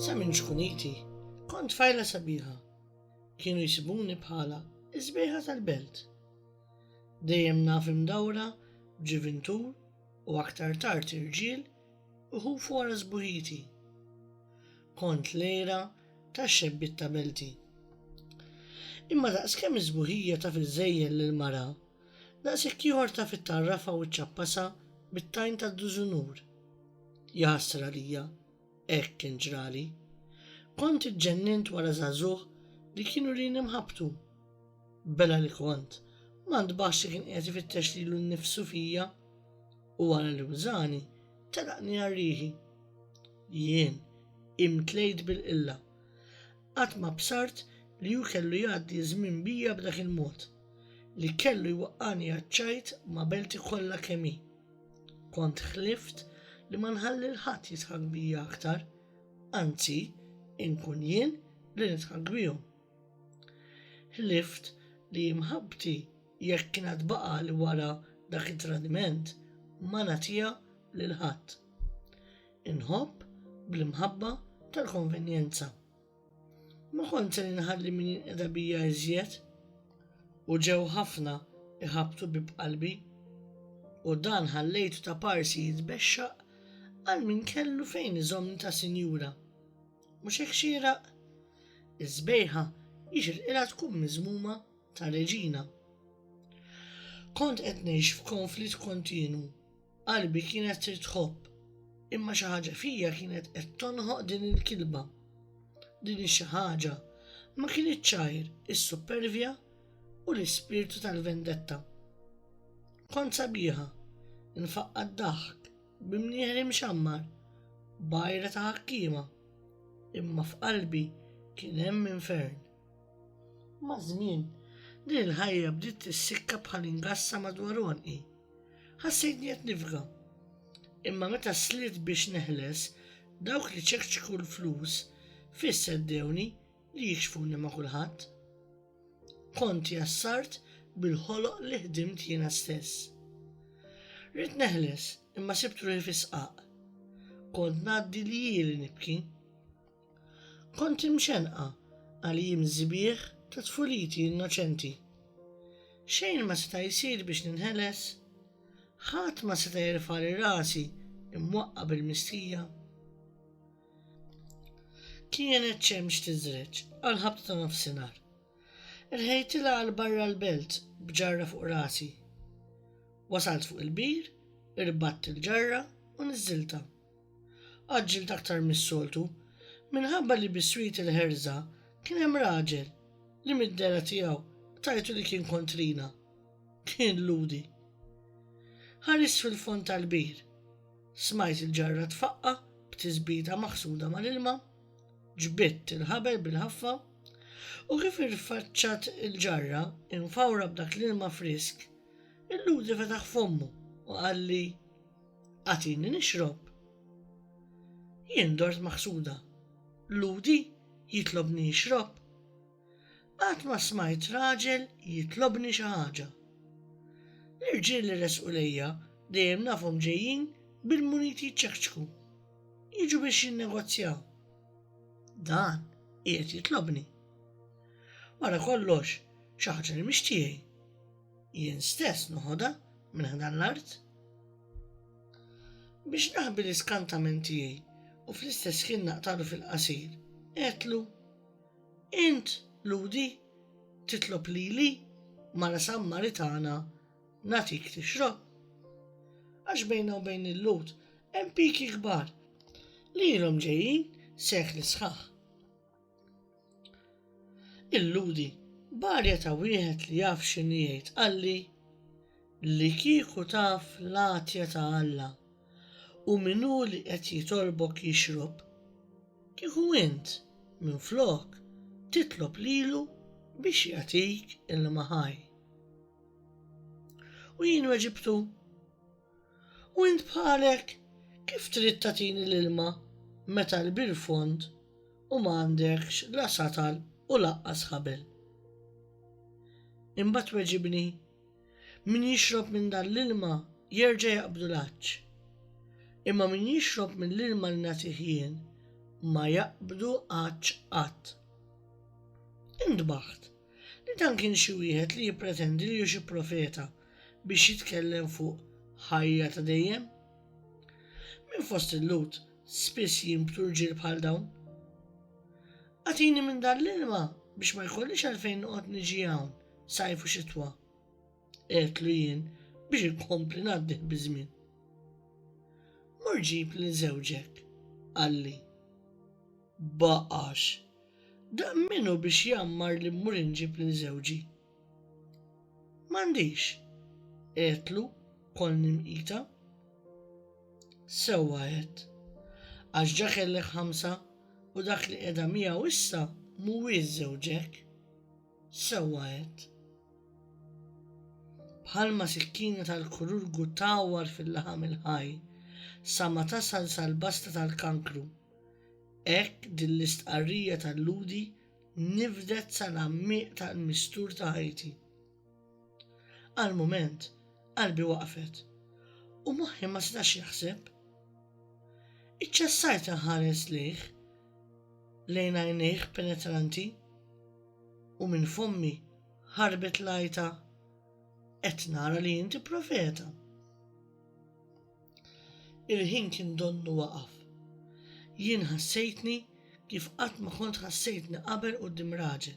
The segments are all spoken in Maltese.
Sa minn ġkuniti, kont fajla sabiħa. Kienu jisibuni bħala iż-żbejħa tal-belt. Dejjem naf imdawra b'ġivintur u aktar tard irġiel iħufu wara sbuħiti. Kont lejra tax-xebbiet ta' belti. Imma daqskemm iż-sbuħija taf iżżejjel lill-mara, Daqshekk ieħor taf ittarrafha u ċċappasha bit-tajn tad-dużunur. Jaħsra għalija, hekk kien ġrali. Kont iġġennint wara żagħżugħ li kienu lin imħabbtu. Bela li kont, ma ntbaħx li kien qiegħed ifittex lilu nnifsu fija u wara li wżani, telaqni għal riħi. Jien imtlejt bil-qilla. Qatt ma bsart li hu kellu jgħaddi ż-żmien bija b'dak il-mod, li kellu jwaqqagħni għaċ-ċajt ma' belti kollha kemm hi. Kont ħlift li ma nħalli 'l ħadd jidħak bija aktar, anzi, inkun jien li nidħak bihom. Ħlift li mħabbti, jekk kien għad baqagħli wara dak it-tradiment, ma nagħtiha lil ħadd. Inħobb bl-imħabba tal-konvenjenza. Ma kont se inħalli min jinqeda bija iżjed u ġew ħafna iħabtu bi b'qalbi u dan ħallejtu ta' parsi jitbexxaq għal min kellu fejn iżommni ta' sinjura. Mhux hekk xieraq? Iż-żbejħa jixirqilha tkun miżmuma ta' reġina. Kont qed ngħix f'konflitt kontinu Qalbi kienet trid tħobb, imma xi ħaġa fija kienet qed tonħoq din il-kilba. Din xi ħaġa ma kienet ċajr is-supervja u l-ispirtu tal-vendetta. Kont sabiħa, nfaqqa d-daħk, bimnieħri mxammar, bajra ta' ħakkima, imma f'qalbi kien hemm infern. Ma' żmien, din il-ħajja bdiet tissikka bħal ingassa madwar onqi. Ħassejtni qed nifga. Imma meta sliet biex neħles, dawk li ċekċku l-flus fisseddewni li jikxfuni ma' kulħadd. Kont jassart bil-ħoloq li ħdimt jiena stess. Rrid neħles imma sibt ruħi fisqaq. Kont ngħaddi li jili nibki. Kont imxenqa għal jiem sbieħ ta' tfuliti innoċenti. Xejn ma seta' jsir biex ninħeles. Ħadd ma seta' jerfagħli rasi imwaqqa' bil-mistija. Kienet xemx tiżreġ għal ħabta ta' nofsinhar. Irħejtilha għal barra l-belt b'ġarra fuq rasi. Wasalt fuq il-bir, irbatt il-ġarra u niżżiltha. Għaġġilt aktar mis-soltu, minħabba li biswit il-ħerża kien hemm raġel li mid-dehra tiegħu tajtu li kien kontrina. Kien Lhudi. Ħarist fil-fond tal-bir. Smajt il-ġarra tfaqqa' b'tisbita maħsuda mal-ilma, ġbidt il-ħabel bil-ħaffa, u kif irfaċċat il-ġarra imfawra b'dak l-ilma frisk, il-Lhudi fetaħ fommu u qalli, Agħtini nixrob. Jien dort maħsuda. Ludi jitlobni nixrob. Qatt ma smajt raġel jitlobni xi ħaġa. L-irġiel li resqu lejja dejjem nafhom ġejjin bil-muniti jċekċku. Jiġu biex jinnegozjaw. Dan qiegħed jitlobni. Wara kollox, xi ħaġa li mhix tiegħi. Jien stess noħodha minn ħdan l-art biex naħbi l-iskantament tiegħi u fl-istess ħin naqtalu fil-qasir. Etlu, int ludi titlob lili mara Sammaritana natik tixrob. Għax bejna u bejn il-lut hemm piki kbar li ilhom ġejjin sekli sħaħ. Illudi, barja ta' wieħed li jaf x'inhi jgħid qalli li kieku taf l-għatja ta' Alla u min hu li qed jitolbok jixrob, kieku int minflok titlob lilu biex jagħtik ilma ħaj. U jien weġibtu, U int bħalek, kif trid tagħtini l-ilma meta l-bir fond u ma għandekx la satal u lanqas ħabel? Imbagħad tweġibni, Min jixrob minn dan l-ilma jerġa' jaqbdu l-għatx. Imma min jixrob mill-ilma li nagħtih jien ma jaqbdu għatx qatt. Intbaħt li dan kien xi wieħed li jippretendi li hu xi profeta biex jitkellem fuq ħajja ta' dejjem? Minn fost il-Lhud spiss jinbtu rġiel bħal dawn. Agħtini minn dan l-ilma biex ma jkollix għalfejn noqgħod niġi hawn sajf u xitwa. Qedlu jien biex inkompli ngħaddih biż-żmien. Mur ġib lil żewġek, qalli. Baqax, dan minnu biex jammar li mmur inġib lil żewġi. M'għandix, għedtlu kol nimqita. Sewwa għedt, għax ġa kellek ħamsa u dak li qiegħda miegħu issa mhuwiex żewġek. Sewwa għedt. Bħalma sikkina tal-kururgu tawwar fil-laħam il-ħaj sa ma tasal sal-basta tal-kankru. Hekk din l-istqarrija tal-lhudi nifdet sal-għammiq tal-mistur ta' ħajti. Għal mument, qalbi waqfet u moħħi ma setax jaħseb. Iċċessajt inħares lejh lejn għajnejh penetranti u minn fommi ħarbet lajta qed nara li inti profeta. Il-ħin kien donnu waqaf. Jien ħassejtni kif qatt ma kont ħassejtni qabel quddiem raġel.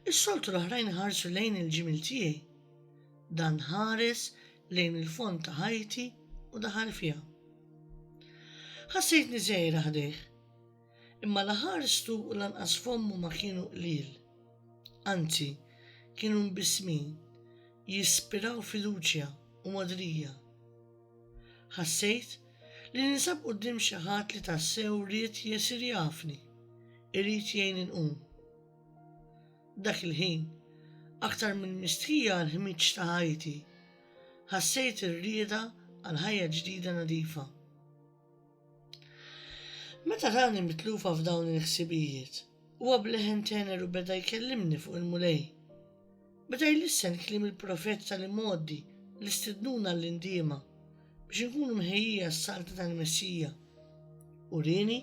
Is-soltu l-oħrajn ħarsu lejn il-ġimil tiegħi. Dan ħares lejn il-fond ta' ħajti u daħal fiha. Ħassejtni żejra ħdejh. Imma la ħarstu u lanqas fommu ma kienu qliel. Anzi, kienu mbissmin, jispiraw fiduċja u mogħdrija. Ħassejt li ninsab quddiem xi ħadd li tassew ried jesir jafni, irid jgħinni nqum. Dak il-ħin, aktar minn mistħija għall-ħmieġ ta' ħajti, ħassejt ir-rieda għal ħajja ġdida nadifa. Meta rani mitlufa f'dawn il-ħsibijiet, huwa bleħen tener u beda jkellimni fuq il-Mulej. Beda jlissen kliem il-profet tal-imgħoddi li stidnuna l-indiema biex inkunu mħejjija s-salta tal-Messija. U rini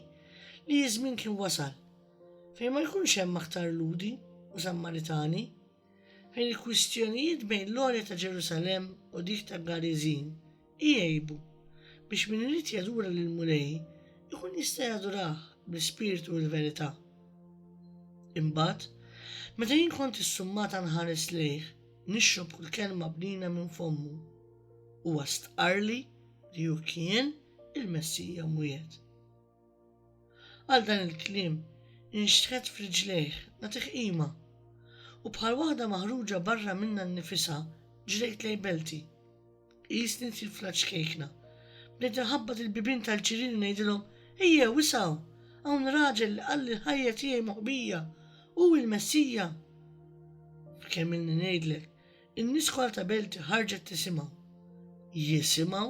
li jiżmin kien wasal fejn ma jkunx hemm aktar ludi u sammaritani Fejn il-kwistjonijiet bejn l-għolja ta' Ġerusalemm u dik ta' Gariżin igħibu, biex min irid jadura lill-Mulej ikun jista' jadurah bl-ispirtu u l-verità. Imbagħad, meta jien kont issummata nħares lejh, nixrob kull kelma bnina minn fommu, huwa stqarrli li hu kien il-Messija mwiegħed. Għal dan il-kliem inxtħet f'riġlejh nagħtih qima, u bħal waħda maħruġa barra minnha nnifisha ġrejt lejn belti. Qisni tifla ċkejkna. Bdejt inħabbat il-bibien tal-ġirien u ngħidilhom, Ejjew, isgħu! Hawn raġel li qalli l-ħajja tiegħi moħbija, hu l-Messija! F'kemmilni ngħidlek, in-nies kollha ta' belti ħarġet tisimgħu. Jisimgħu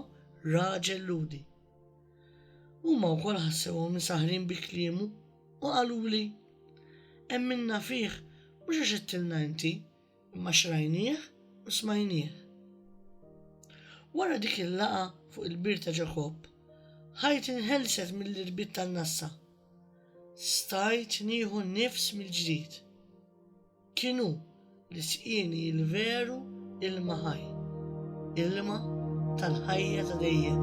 raġel Lhudi. Huma wkoll ħassewhom imsaħħrin bi kliemu u qaluli, Emminna fih mhux għax għedtilna inti, imma xrajnieh u smajnieh. Wara dik il-laqa fuq il-bir ta' Ġakobb, ħajt inħelset mill-irbit tan-nassa. Stajt nieħu nifs mill-ġdid. Kien hu li sqieni l-veru ilma ħaj, ilma tal-ħajja ta' dejjem.